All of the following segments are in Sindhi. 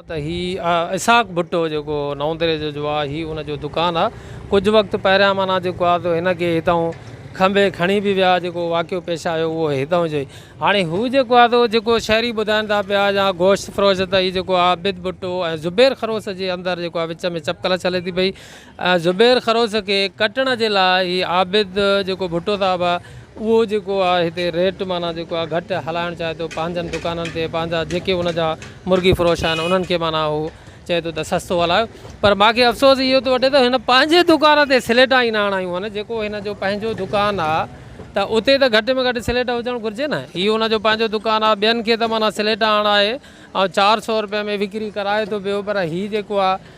ته هي اسحاق ڀٽو جيڪو نئون دري جو جو آ هي ان جو دڪان آ ڪجهه وقت پهريان معنيٰ جيڪو آ تو هن کي هتئون کنڀي کڻي به ويا جيڪو واقعو پيش آيو اهو هتئون جو ئي هاڻي هو جيڪو آ تو جيڪو شهري ٻڌائين ٿا پيا يا گوشت فروش ته هي جيڪو عابد ڀٽو ۽ زبير خروس جي اندر جيڪو آ وچ ۾ چپڪلس هلي ٿي پئي زبير خروس کي ڪٽڻ جي لاء هي عابد جيڪو ڀٽو صاحب آ اهو جيڪو آ هتي ريٽ معنيٰ جيڪو آ گهٽ هلائڻ چاهي ٿو پنهنجن دڪانن تي پنهنجا جيڪي ان جا مرغي فروش آهن انهن کي معنيٰ هو چئي ٿو ته سستو هلايو پر ماکي افسوس اهو ٿو وٺي ته هن پنهنجي دڪان تي سليٽا ئي نه هڻايون آهن جيڪو هن جو پنهنجو دڪان آ ته اتي ته گهٽ ۾ گهٽ سليٽ هجڻ گهرجي نه هي ان جو پنهنجو دڪان آ ٻين کي ته معنيٰ سليٽا هڻائي ۽ چار سئو روپئي ۾ وڪري ڪرائي ٿو پيو پر هي جيڪو آ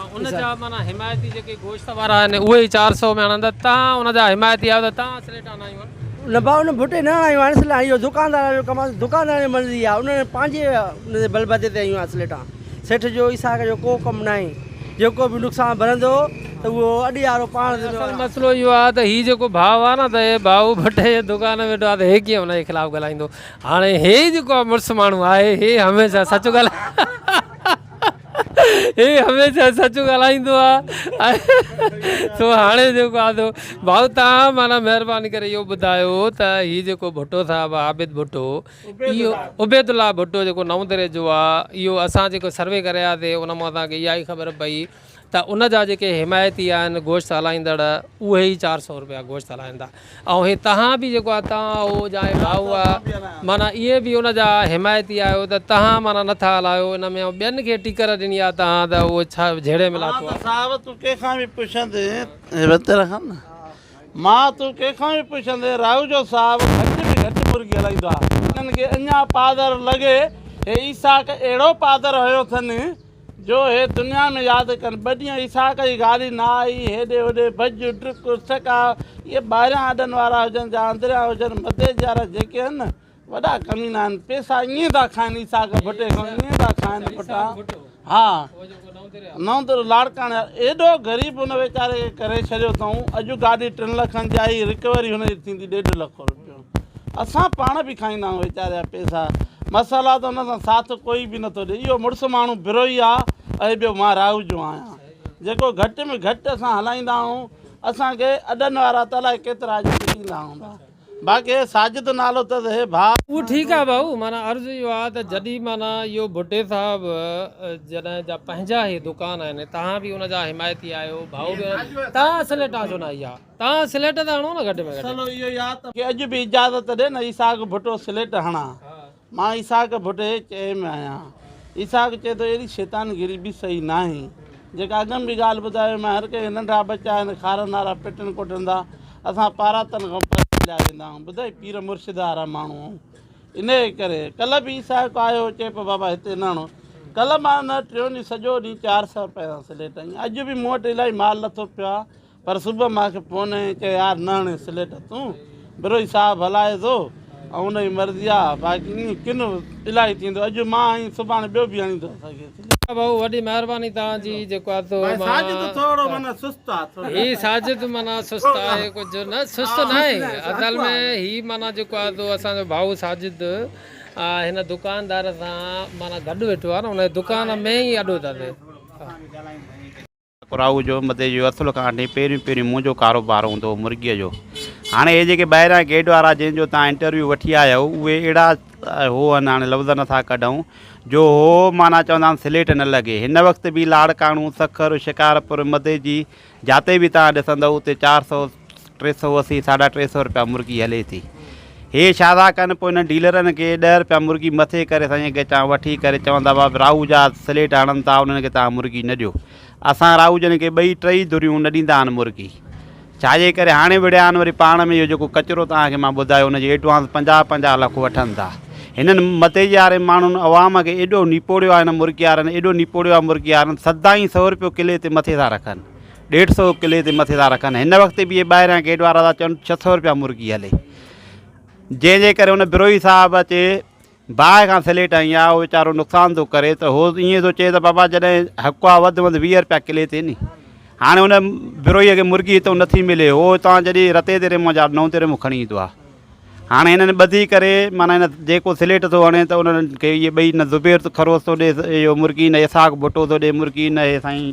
۽ ان جا معنيٰ حمايتي جيڪي گوشت وارا آهن اهي ئي چار سئو ۾ هڻن ته تان ان جا حمايتي آهيو ته تان سليٽ هڻايون آهن. نه ڀاء ان ڀٽي نه هڻايون آهن سليٽ اهو دڪاندارن جو ڪم آهي دڪاندارن جي مرضي آهي انهن جي پنهنجي ان جي بلبوتي تي هيون آهن سليٽان سيٺ جو ايساڪ جو ڪو ڪم ناهي جيڪو به نقصان ڀرندو ته اهو اڏيارو پاڻ ذميوار آهي. اصل مسئلو اهو آهي ته هي جيڪو ڀاء آهي نه ته هي ڀاء ڀٽي جي دڪان ۾ ويٺو آهي ته هي ڪيئن ان جي خلاف ڳالهائيندو هاڻي هي جيڪو مڙس ماڻهو آهي هي هميشه سچ ڳالهائي هي هميشه سچ ڳالهائيندو آ سو هاڻي جيڪو آ سو ڀائو تان معنيٰ مهرباني ڪري اهو ٻڌايو ته هي جيڪو ڀٽو صاحب آ عابد ڀٽو اهو عبيد الله ڀٽو جيڪو نئون دري جو آ اهو اسان جيڪو سروي ڪرياسي ان مان اسان کي اها ئي خبر پئي ته ان جا جيڪي حمايتي آهن گوشت هلائيندڙ اهي ئي چار سئو روپيا گوشت هلائيندا ۽ هي توهان به جيڪو آهي توهان هو جا هي ڀائو آهي معنيٰ اهي به ان جا حمايتي آهيو ته توهان معنيٰ نه ٿا هلايو ان ۾ ٻين کي ٽڪر ڏني آهي توهان ته اهو ڇا جهيڙي ۾ لاٿو آهي. مان ته صاحب تون ڪنهن کان به پڇندين هي وتي رکان نه مان تون ڪنهن کان به پڇندين راهوجو صاحب گهٽ ۾ گهٽ مرغي هلائيندو آهي هنن کي اڃان پادر لڳي هي عيساق اهڙو پادر هنيو اٿن جو هي دنيا ۾ ياد ڪن. ٻه ڏينهن اسحاق جي گاڏي نه آئي. هيڏي هوڏي ڀڄ، ڊڪ، اسڪ آ. اهي ٻاهريان اڏن وارا هجن جا اندريان هجن، مدي جي وارا جيڪي هن نه، وڏا ڪمينا آهن. پيسا ائين ٿا کائن اسحاق ڀٽي کان، ائين ٿا کائن پٽا. ها. نوندر لاڙڪاڻي ايڏو غريب هن ويچاري کي ڪري ڇڏيو اٿئون. اڄ گاڏي ٽن لکن جي آئي، رڪوري هن جي ٿيندي ڏيڍ لک روپيو. اسان پاڻ به کائيندا آهيون ويچاريا پيسا مسالا ته ان سان ساٿ ڪوئي به نٿو ڏي اهو مڙس ماڻهو بروهي آهي ۽ ٻيو مان راهو جو آهيان جيڪو گهٽ ۾ گهٽ اسان هلائيندا آهيون اسانکي اڏن وارا ته الائي ڪيترا اڄ ڏيندا هوندا باقي ساجد نالو اٿس هي ڀاء اهو ٺيڪ آهي ڀائو معنيٰ عرض اهو آهي ته جڏهن معنيٰ اهو ڀٽي صاحب جڏهن جا پنهنجا هي دڪان آهن توهان به ان جا حمايتي آهيو ڀائو به توهان سليٽان ڇو نه آئي آ توهان سليٽ ته هڻو نه گهٽ ۾ گهٽ. کي اڄ به اجازت ڏي نه اسحاق ڀٽو سليٽ هڻان. مان اسحاق ڀٽي چئي ۾ آهيان. اسحاق چئي ٿو اهڙي شيطان گيري به صحيح ناهي. جيڪا اڳ ۾ به ڳالهه ٻڌائي هئي مان هر ڪنهن کي ننڍا ٻچا آهن کارا نارا پٽن ڪوٽن ٿا اسان پاراتن کان پري هليا ويندا آهيون ٻڌائي پير مرشد وارا ماڻهو آهيون انهي ڪري ڪلهه به اسحاق آيو چئي پيو بابا هتي نه هڻو ڪلهه مان نه ٽيون ڏينهن سڄو ڏينهن چار سئو رپئي سان سليٽ هنئي اڄ به مون وٽ الائي مال لٿو پيو آهي پر صبح مان کي فون ائين ڪيو يار نه هڻي سليٽ تون بروهي صاحب هلائي ٿو ۽ ان جي مرضي آ باقي ائين ڪن الائي ٿيندو اڄ مان ۽ سڀاڻي ٻيو به هڻي ٿو سگهي سليٽ. ها ڀائو وڏي مهرباني توهان جي جيڪو آتو مان ڀائي ساجد ٿورو معنيٰ سست آ ٿورو هي ساجد معنيٰ سست آهي ڪجهه نه سست ناهي اصل ۾ هي معنيٰ جيڪو آتو اسان جو ڀائو ساجد هن دڪاندار سان معنيٰ گڏ ويٺو آ نه هن جي دڪان ۾ ئي اڏو تاتي ڪراهو جو مدي جو اٿل کان آنڊي پهريون پهريون منهنجو ڪاروبار هوندو هو مرغيء جو. هاڻي اهي جيڪي ٻاهريان گيٽ وارا جن جو توهان انٽرويو وٺي آيا آهيو اهي اهڙا هو هن هاڻي لفظ نه ٿا ڪڍئون جو هو هو معنيٰ چوندا آهن سليٽ نه لڳي. هن وقت به لاڙڪاڻو، سکر، شڪارپور مدي جي جاتي به توهان ڏسندئو اتي چار سؤ، ٽي سؤ اسي ساڍا ٽي سؤ رپيا مرغي هلي ٿي هي شادا ڪن پوء انهن ڊيلرن کي ڏهه رپيا مرغي مٿي ڪري سائين گچان وٺي ڪري چون ٿا بابا راهو جا سليٽ هڻن ٿا انهن کي توهان مرغي نه ڏيو اسان راهو جن کي ٻئي ٽئي ڌريون نه ڏيندا آهن مرغي ڇاجي ڪري هاڻي وڙهيا آهن وري پاڻ ۾ اهو جيڪو ڪچرو توهان کي مان ٻڌايو ان جي ايڊوانس پنجاهه پنجاهه لک وٺن ٿا هنن متيجي واري ماڻهن عوام کي ايڏو نيپوڙيو آهي هن مرغي وارن ايڏو نيپوڙيو آهي مرغي وارن سدائين سؤ رپيو ڪلي تي مٿي ٿا رکن ڏيڍ سئو ڪلي تي مٿي ٿا رکن هن وقت به ٻاهريان گيٽ وارا ٿا چون ڇهه سئو روپيا مرغي هلي جنهن جي ڪري هن بروهي صاحب اچي باهه کان سليٽ هنئي آ هو ويچارو نقصان ٿو ڪري ته هو ائين ٿو چئي ته بابا جڏهن حق آ وڌ وڌ ويهه روپيا ڪلي تي ني هاڻي هن بروهيء کي مرغي هتو نٿي ملي هو هتان جڏهن رتي تي ريمو جا نو تي ريمو کڻي ايندو آ هاڻي هنن ٻڌي ڪري معنيٰ هن جيڪو سليٽ ٿو هڻي ته انهن کي اهي ٻئي نه زبير ٿو خروس ٿو ڏي اهو مرغي نه اسحاق ڀٽو ٿو ڏي مرغي نه هي سائين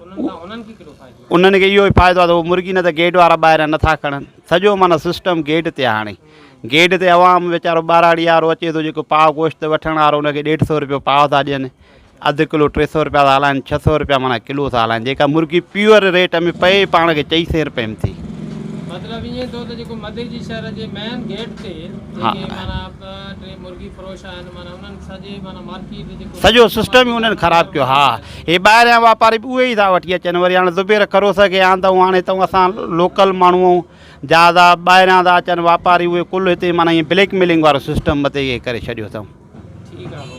انهن کي اهو ئي فائدو آهي ته هو مرغي نه ته گيٽ وارا ٻاهريان نه ٿا کڻن سڄو معنيٰ سسٽم گيٽ تي آهي هاڻي گيٽ تي عوام ويچارو ٻهراڙي وارو اچي ٿو جيڪو پاء گوشت وٺڻ وارو ان کي ڏيڍ سو روپيو پاء ٿا ڏين اڌ ڪلو ٽي سو روپيا ٿا هلائن ڇهه سو روپيا معنيٰ ڪلو ٿا هلائن جيڪا مرغي پيور ريٽ ۾ پئي پاڻ کي چئي سين روپئي ۾ ٿي مطلب ائين ٿو ته جيڪو مدي جي شهر جي مين گيٽ تي جيڪي معنيٰ ٽي مرغي فروش آهن معنيٰ انهن سڄي معنيٰ مارڪيٽ جيڪو سڄو سسٽم ئي انهن خراب ڪيو ها هي ٻاهريان واپاري به اهي ئي ٿا وٺي اچن وري هاڻي زبير خروس کي آندئون هاڻي تون اسان لوڪل ماڻهو جا دا ٻاهريان ٿا اچن واپاري اهي ڪل هتي معنيٰ ائين بليڪ ميلنگ وارو سسٽم متي ڪري ڇڏيو اٿئون